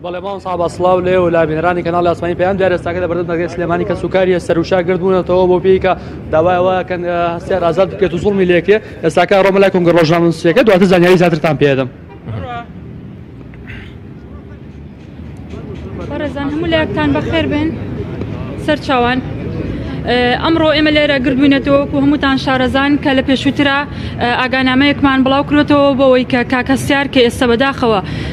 بەڵێ مام سابا سلااو لێ و لابینرانی کەناڵ ئاسمانی پێیان دارستاکە لە بەردەم دەگەی سلێمانی کە سوکاریە سەروشا گردبوونەتەوە بۆ پێیکە داوایەوە کەن هەستیار ئازاد بکرێت و زڵمی لێکێ ئێستاکە ڕۆمە لای کۆنگە ڕۆژنامە نووسەکە دواتر زانیاری زیاترتان پێدەم بەڕێزان هەموو لایەکتان بەخێر بن سەرچوان. ئەمڕۆ ئێمە لێرە گردبووینەتەوە و هەمووتان شارەزان کە لە پێشووترا ئاگانامەیەکمان بڵاو کرێتەوە بەوەی کە کاکەسیار کە ئێستا بەداخەوە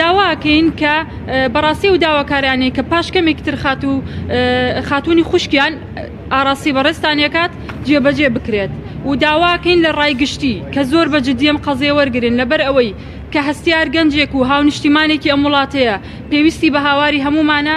داوا ئەکەین کە بەڕاستی ئەو داواکارانەی کە پاش کەمێکی تر خاتوو خاتوونی خوشکیان ئاڕاستی بەڕێزتان یەکات جێبەجێ بکرێت و داواکەین لە ڕای گشتی کە زۆر بە جددیم قەزێ وەرگن لەبەر ئەوەی کە هەستیار گەنجێک و هاونیشتیمانێکی ئەم وڵاتەیە پێویستی بە هاواری هەموومانە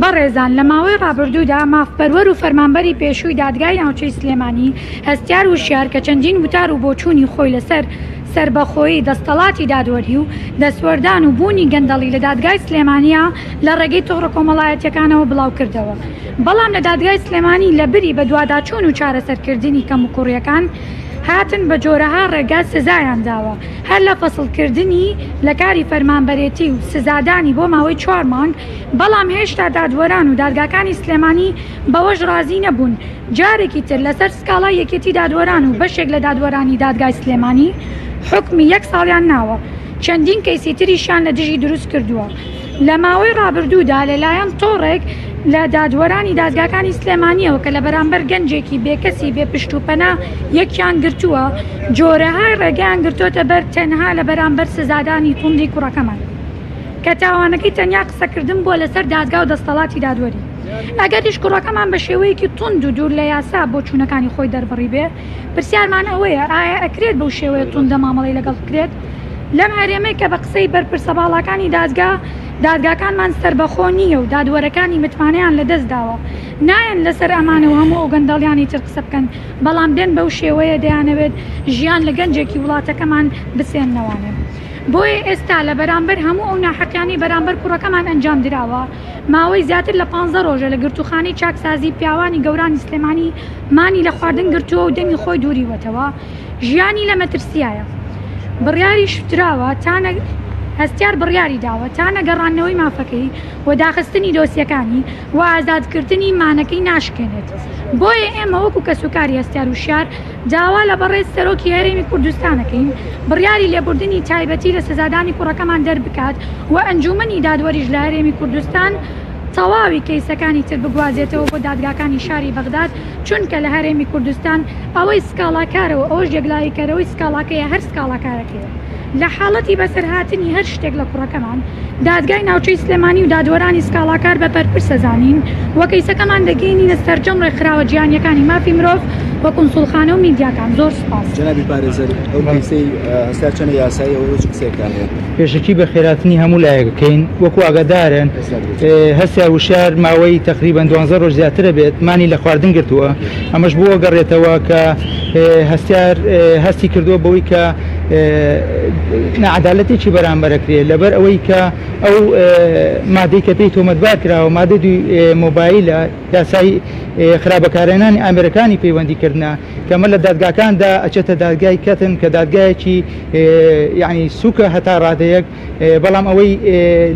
بەڕێزان لە ماوەی ڕابردوودا مافپەروەر و فەرمانبەری پێشووی دادگای ناوچەی سلێمانی هەستیار وشیار کە چەندین وتار و بۆچوونی خۆی لەسەر سەربەخۆیی دەستەڵاتی دادوەری و دەستوەردان و بوونی گەندەڵی لە دادگای سلێمانیا لە ڕێگەی تۆڕە کۆمەڵایەتیەکانەوە بڵاو کردەوە بەڵام لە دادگای سلێمانی لە بری بەدواداچوون و چارەسەرکردنی کەموکوڕیەکان هاتن بە جۆرەها ڕێگا سزایان داوە هەر لە فەسڵکردنی لە کاری فەرمانبەرێتی و سزادانی بۆ ماوەی چوار مانگ، بەڵام هێشتا دادوەران و دادگاکانی سلێمانی بەوەش رازی نەبوون جارێکی تر لەسەر سکاڵای یەکێتی دادوەران و بەشێک لە دادوەرانی دادگای سلێمانی حوکمی یەک ساڵیان ناوە چەندین کەیسی تریشیان لە دژی دروست کردووە. لە ماوەی ڕابردوودا لەلایەن تۆڕێک لە دادوەرانی دادگاکانی سلێمانییەوە کە لە بەرامبەر گەنجێکی بێکەسی بێ پشت و پەنا یەکیان گرتووە، جۆرەهای ڕێگەیان گرتۆتە بەر تەنها لە بەرامبەر سزادانی توندی کوڕەکەمان کە تاوانەکەی تەنیا قسەکردن بووە لەسەر دادگا و دەستەڵاتی دادوەری. ئەگەریش کوڕەکەمان بە شێوەیەکی توند و دوور لە یاسا بۆچوونەکانی خۆی دەربڕیبێ، پرسیارمان ئەوەیە ئایا ئەکرێت بەو شێوەیە توندە مامەڵەی لەگەڵ بکرێت؟ لەم هەرێمەی کە بە قسەی بەرپرسە باڵاکانی دادگا، دادگاکانمان سەربەخۆ نییە و دادوەرەکانی متمانەیان لە دەست داوە، نایەن لەسەر ئەمانە و هەموو ئەو گەندەڵیانەی تر قسە بکەن، بەڵام دێن بەو شێوەیە دەیانەوێت ژیان لە گەنجێکی وڵاتەکەمان بسێننەوانێ. بۆیە ئێستا لە بەرامبەر هەموو ئەو ناحەقیانەی بەرامبەر کوڕەکەمان ئەنجام دراوە، ماوەی زیاتر لە پانزە رۆژە لە گرتووخانەی چاکسازی پیاوانی گەورانی سلێمانی مانی لە خواردن گرتووە و دەمی خۆی دووریوەتەوە، ژیانی لە مەترسیایە. بڕیاریشدراوە تا هەستیار بڕیاری داوە تا نەگەڕاندنەوەی مافەکەی و داخستنی دۆسیەکانی و ئازادکردنی مانەکەی ناشکێنێت، بۆیە ئێمە وەکو کەسوکاری هەستیار وشیار داوا لە بەڕێز سەرۆکی هەرێمی کوردستان دەکەین بڕیاری لێبوردنی تایبەتی لە سزادانی کوڕەکەمان دەربکات و ئەنجومەنی دادوەریش لە هەرێمی کوردستان تەواوی کەیسەکانی تر بگوازێتەوە بۆ دادگاکانی شاری بەغداد چونکە لە هەرێمی کوردستان ئەوەی سکاڵاکارەو ئەوەش یەکلاییکەرەوەی سکاڵاکەیە هەر سکاڵاکارەکەیە لە حاڵەتی بەسەرهاتنی هەر شتێک لە کوڕەکەمان دادگای ناوچەی سلێمانی و دادوەرانی سکاڵاکار بە بەرپرس دەزانین و کەیسەکەمان دەگەیەنینە سەرجەم ڕێکخراوە جیهانیەکانی مافی مرۆڤ و کونسوڵخانە و میدیاکان زۆر سوپاس. جەنابی پارێزەر ئەو کەیسەی هەستار چەنە یاساییە و ئێوە چ قسەیەکتان هەیە؟ پێشەکی بەخێراتنی هەموو لایەکەکەین وەکو ئاگادارن. هەستیار وشیار ماوەی تەقریبەن دوانزە ڕۆژ زیاترە بێت مانی لە خواردن گرتووە ئەمەش بۆ گەڕێتەوە کە هەستیار هەستی کردووە بەوەی کە نەعادالەتێکی بەرامبەرەکرێ لەبەر ئەوەی کە ئەو مادەی کە پێی تۆمەتبار کراوە مادە دوی مۆبایلە یاسای خراپەکارێنانی ئامرەکانی پەیوەندی کردە کەمە لە دادگاکاندا ئەچێتە دادگای کەتن کە دادگایەکی یعنی سوکە هەتا ڕادەیەک بەڵام ئەوەی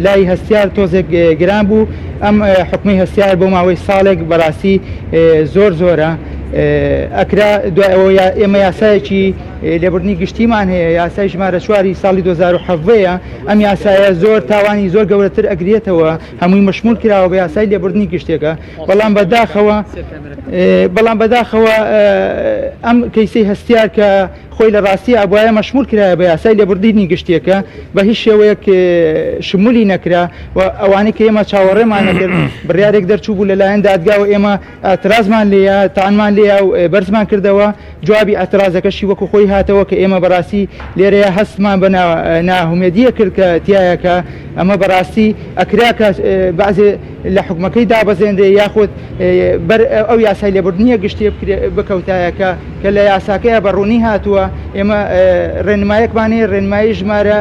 لای هەستیار تۆزێک گران بوو ئەم حکومی هەستیار بۆ ماوەی ساڵێک بەڕاستی زۆر زۆرە ئەکرا دوای ئەوە ئێمە یاسایەکی لێبوردنی گشتیمان هەیە یاسای ژمارە چواری ساڵی 2010ەیە ئەم یاسایە زۆر تاوانی زۆر گەورەتر ئەگرێتەوە هەمووی مەشمول کراوە بە یاسای لێبوردنی گشتێکە بەڵام بەداخەوە بەڵام بەداخەوە ئەم کەیسی هەستیار کە خۆی لە ڕاستیە ئەبوایە مەشمول کرایە بە یاسای لێبوردینی گشتیە کە بە هیچ شێوەیەک شمولی نەکرا و ئەوانەی کە ئێمە چاوەڕێمان نەکرد بڕیارێک دەرچوو بوو لەلایەن دادگا و ئێمە ئەترازمان لێە تانمان لێە و بەرزمان کردەوە جوابی ئەترازەکەشی وەکو خۆی هاتەوە کە ئێمە بەڕاستی لێرەیە هەستمان بە ناهومێدیە کرد کە تایەکە ئەمە بەڕاستی ئەکرا کە بەعزێ لە حوکمەکەی دابەزێنرێ یاخود بەر ئەو یاسای لێبوردنیە گشتیە بکەوتایە کە کە لە یاساکەیە بە ڕوونی هاتووە ئێمە ڕێنمایەکمانەیە ڕێنمایی ژمارە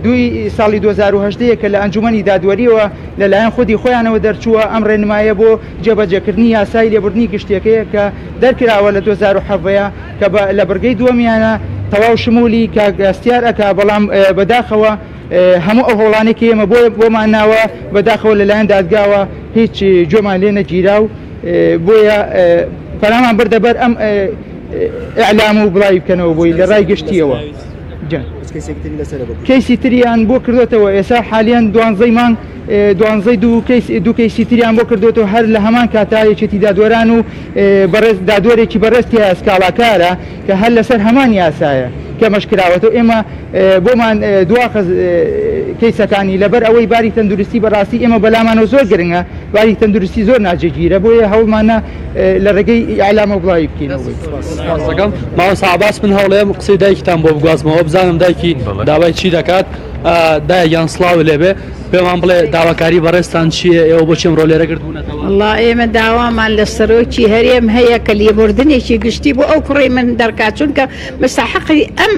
دوی ساڵی 2010 کە لە ئەنجومی دادوەریەوە لەلایەن خودی خۆیانەوە دەرچووە ئەم ڕێنمایە بۆ جێبەجێکردنی یاسای لێبوردنی گشتیەکەیە کە دەرکراوە لە 2017 کە لە بڕگەی دووەمیانە تەواو شمولی کاک هەستیار ئەکا بەڵام بەداخەوە هەموو ئەو هەوڵانێکی ئێمە بۆیە بۆمان ناوە بەداخەوە لەلایەن دادگاوە هیچ گوێمان لێ نەگیرا و بۆیە پەرامان بردەبەر ئەم ئەعلام و بڵاوی بکەنەوە بۆی لە ڕای گشتیەوە کەیسی تریان بۆ کردوێتەوە ئێسا حالیان دوانزەی مانگ دوانزەی دوو کەیس دوو کەیسی تریان بۆ کردوێتەوە هەر لە هەمان کاتا یەکێتی دادوەران و بەڕێز دادوەرێکی بەڕێستی هەیە سکاڵاکارە کە هەر لەسەر هەمان یاسایە کەمەش کراوەتەوە، ئێمە بۆمان دواخست کەیسەکانی، لەبەر ئەوەی باری تەندروستی بەڕاستی ئێمە بەلامانەوە زۆر گرنگە، باری تەندروستی زۆر ناجێگیرە، بۆیە هەوڵمانە لە ڕێگەی ئیعلامەوە بڵاوی بکەینەوە. مامۆستا عەباس من هەوڵێم قسەی دایکتان بۆ بگوازمەوە بزانم دایکی داوای چی دەکات؟ دایە گیان سڵاوو لێبێ. پێمان بڵێ داواکاری بەڕێزتان چییە؟ ئێوە بۆچی ئەمڕۆ لێرە گردبوونەتەوە؟ وەڵڵا ئێمە داوامان لە سەرۆکی هەرێم هەیە کە لێبوردنێکی گشتی بۆ ئەو کوڕەی من دەرکات چونکە مستەحەقی ئەم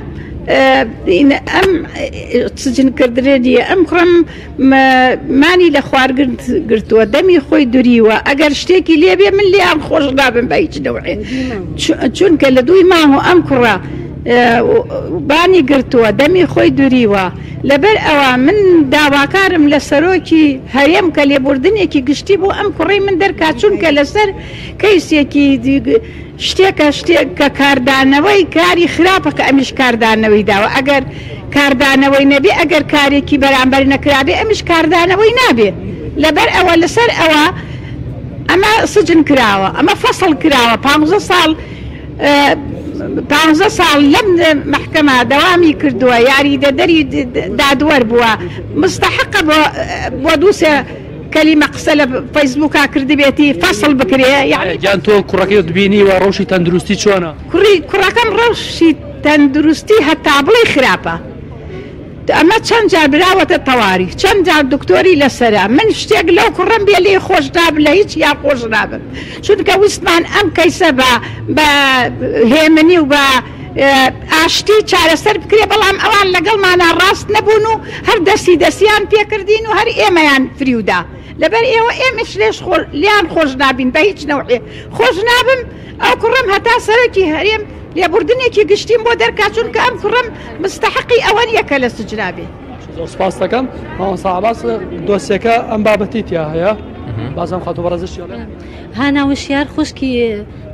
ئەم سجنکردنە نییە ئەم کوڕەم مانی لە خوارگرن گرتووە دەمی خۆی دوریوە ئەگەر شتێکی لێبێ من لێیان خۆش نابم بە هیچ نەوعێ چونکە لە دووی ماوە ئەم کوڕە بانی گرتووە دەمی خۆی دوریوە لەبەر ئەوە من داواکارم لە سەرۆکی هەرێم کە لێبوردنێکی گشتی بۆ ئەم کوڕەی من دەرکات چونکە لەسەر کەیسێکی شتێکە شتێک کە کاردانەوەی کاری خراپە کە ئەمیش کاردانەوەی داوە ئەگەر کاردانەوەی نەبێ ئەگەر کارێکی بەرامبەر نەکرابێ ئەمیش کاردانەوەی نابێ لەبەر ئەوە لەسەر ئەوە ئەمە سجن کراوە ئەمە فەسڵ کراوە پانزە ساڵ پانزە ساڵ لەم مەحکەمە دەوامی کردووە یاریدەدەری دادوەر بووە مستحقە بۆ بۆ دووسێ کەلیمە قسە لە فەیسبووکا کردبێتی فەصل بکرێ یاریان تۆ کوڕەکەت بینیوە ڕەوشی تەندروستی چۆنە کوڕی کوڕەکەم ڕەوشی تەندروستی هەتا بڵێ خراپە. ئەمە چەند جار براوەتە تەواری چەند جار دکتۆری لەسەرە من شتێک لەو کوڕەم بێ لێی خۆش نابم لە هیچ یان خۆش نابم چونکە ویستمان ئەم کەیسە بە بە هێمنی و بە ئاشتی چارەسەر بکرێ بەڵام ئەوان لەگەڵمانە ڕاست نەبوون و هەر دەستی دەسیان پێکردین و هەر ئێمەیان فریودا لەبەر ئێوە ئێمەش لێش خۆ لیان خۆش نابین بە هیچ نەوعێ خۆش نابم ئەو کوڕەم هەتا سەرۆکی هەرێم لێبوردنێکی گشتیم بۆ دەرکا چونکە ئەم کوڕەم مستحقی ئەوە نیە کە لە سجنا بێ. زۆر سپاس دەکەم مامۆستا عباس دۆسیەکە ئەم بابەتی تیا هەیە بازم خاتو بەڕزش هانا وشیار خوشکی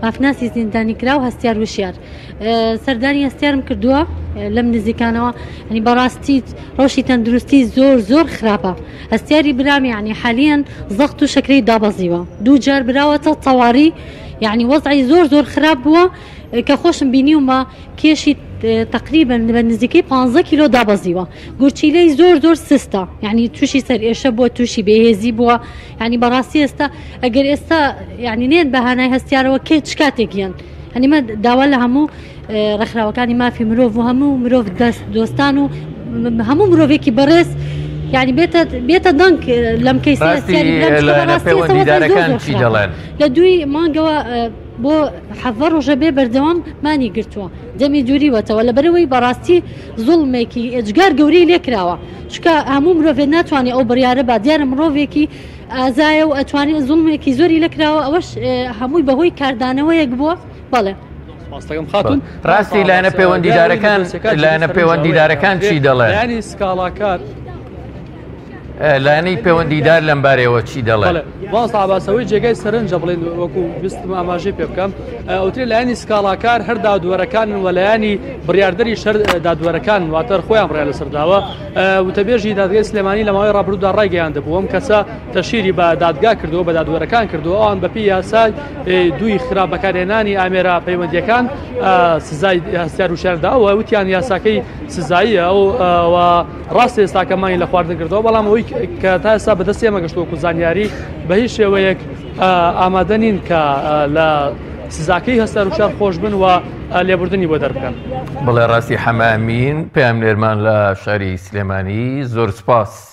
مافناسی زیندانی کرا و هەستیار وشیار سەردانی هەستیارم کردووە لەم نزیکانەوە ینی بەڕاستی ڕۆشی تەندروستی زۆر زۆر خراپە هەستیاری برامی عنی حالیان زەخت و شکری دابەزیوە دوو جار براوەتە تەواری یەعنی وەزعی زۆر زۆر خراپ بووە کە خۆشم بینیومە کێشی تقریبا بە نزیکەی 15 کیلۆ دابەزیوە گورچیلەی زۆر زۆر سستە یعنی تووشی سەر ئێشە بووە تووشی بێهێزی بووە ینی بەڕاستی ئێستا ئەگەر ئێستا یعنی نێن بەهانای هەستیارەوە کێ چ کاتێک گیان هەنیمە داوا لە هەموو ڕێکخراوەکانی مافی مرۆڤ و هەموو مرۆڤ دەست دۆستان و هەموو مرۆڤێکی بەڕێز یعنی بێتە بێتە دەنگ لەم کەی دەڵێن لە دوی مانگەوە بۆ حەڤە ڕۆژە بێ بەردەوام مانی گرتووە دەمی دووریوەتەوە لە بەرەوەی بەڕاستی زوڵمێکی ئەجگار گەورەی لێکراوە چکە هەموو مرۆڤێت ناتوانێت ئەو بڕیاە با دیارە مرۆڤێکی ئازایە و ئەتوانێت زوڵمێکی زۆری لەکراوە ئەوەش هەمووی بەهۆی کاردانەوەیەک بووە بەڵێ ڕاستی لایەنە پەیوەندیدارەکان لایەنە پەیوەندیدارەکان چی دەڵێ ینی سکاڵاکار لایەنەی پەیوەندیدار لەم بارەوە چی دەڵێ باسەوەی جێگای سەرنجە بڵێن وەکو ویستم ئاماژەی پێ بکەم ئەوتری لایەنی سکاڵاکار هەر دادوەرەکان وەلایانی بڕاردەری شەر دادوەرەکان واتەر خۆیان بڕیان لەسەرداوە وتەبێژی دادگەی سلێمانی لەماوەی ڕابردودا ڕایگەیان دەبووم کەسە تەشهیری بە دادگا کردووە بە دادوەرەکان کردووە ئەوان بەپێی یاسای دووی خراپ بەکارهێنانی ئامێرە پەیوەندیەکان سزای هەستیار وشارداوە وتیان یاساکەی سزاییە و ڕاست ئێستاکەمانی لە خواردن کردەوە بەڵام ئەوەی کە تا ئێستا بەدەست ئێمەگەشتوەکو زانیاری بە هیچ شێوەیەک ئامادە نین کە لە سزاکەی هەستار وشار خۆش بن و لێبوردنی بۆ دەربکەن بڵێ ڕاستی حەمامین پامنێرمان لە شاری سلێمانی زۆر سپاس.